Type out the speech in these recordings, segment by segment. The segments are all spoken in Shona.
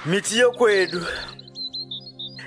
miti yokwedu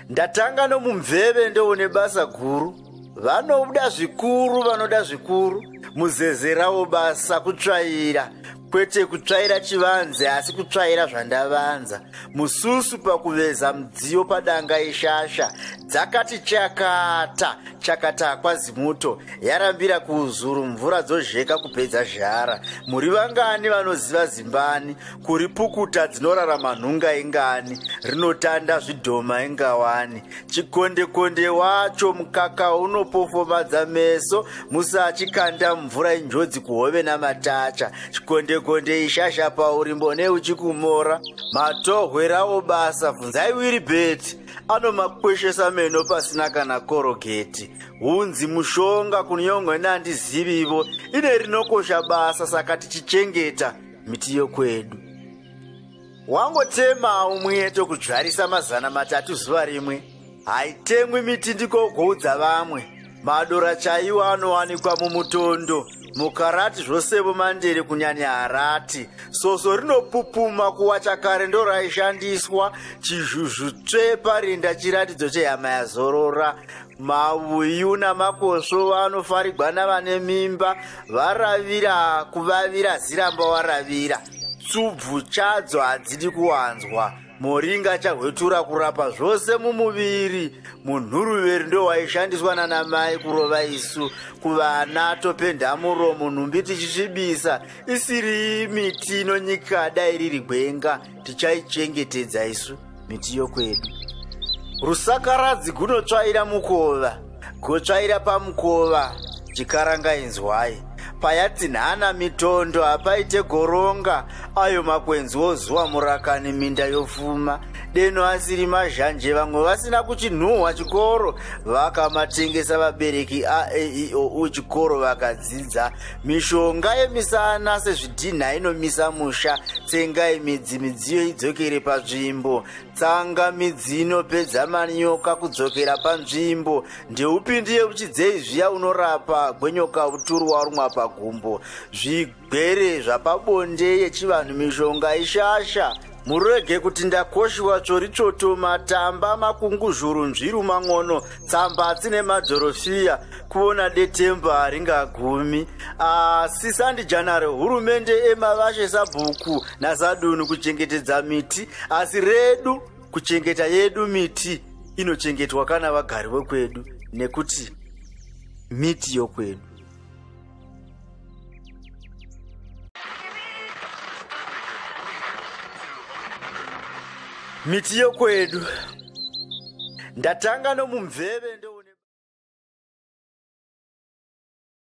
ndatanga nomumveve ndoone basa guru vanoda zvikuru vanoda zvikuru muzezerawo basa kutsvaira kwete kutsvaira chivanze asi kutsvaira zvandavanza mususu pakuveza mudziyo padanga yeshasha dzakati chakata chakata kwazimuto yarambira kuuzuru mvura dzozheka kupedza zhara muri vangani vanoziva zimbani kuri pukuta dzinorarama nhunga ingani rinotanda zvidhoma ingawani chikondekonde wacho mukaka unopofomadza meso musachikanda mvura injodzi kuhove namatacha chikondekonde ishasha pauri mbone uchikumora matohwerawo basa bvunzai wiri beti anomakweshesa meno pasina kana korogeti hunzi mushonga kunyongwa neandizivi ivo ine rinokosha basa saka tichichengeta miti yokwedu wangotemao mwiye tokudzvarisa mazana matatu zuva rimwe haitemwi miti ndikogoudza vamwe madora chaiwo anowanikwa mumutondo mukarati zvosevo mandere kunyanya harati soso rinopupuma kuwa chakare ndo raishandiswa chizhuzhu tsvepa rinda chiratidzo chehama yazorora Mavuyu namakosvo vanofarigwa navane mimba varavira kuvavira ziramba waravira tsubvu chadzo hadzidi kuwanzwa moringa chahwetura kurapa zvose mumuviri munhuruveri ndowaishandiswa nanamai kurova isu kuvana topenda muromo nhumbi tichisvibisa isiri miti inonyika dai riri gwenga tichaichengetedza isu miti yokwedu rusakaradzi gunotsvaira mukova gotsvaira pamukova chikaranga inzwai payatsinhana mitondo hapaite goronga ayo makwenzi wozuva murakani minda yofuma deno asiri mazhanje vamwe vasina kuchinhuhwa chikoro vakamatengesa vabereki aeio u chikoro vakadzidza mishonga yemisana sezvidhinha inomisa musha tsengai midzi midziyo idzokere panzvimbo tsanga midzi inopedza manyoka kudzokera panzvimbo ndeupindi yekuchidzei zviya unorapa gwenyoka uturu warumwa pagumbo zvigwere zvapabonde yechivanhu mishonga ishasha Murege kuti ndakoshiwa tsvori tsvoto matamba makunguzvuru nzviru mang'ono tsamba dzine madhorofiya kuona detemba haringagumi asi sandijanare hurumende emavashe sabhuku nasadunhu kuchengetedza miti asi redu kuchengeta yedu miti inochengetwa kana vagari vekwedu nekuti miti yokwedu miti yokwedu ndatanga nomumveve ndo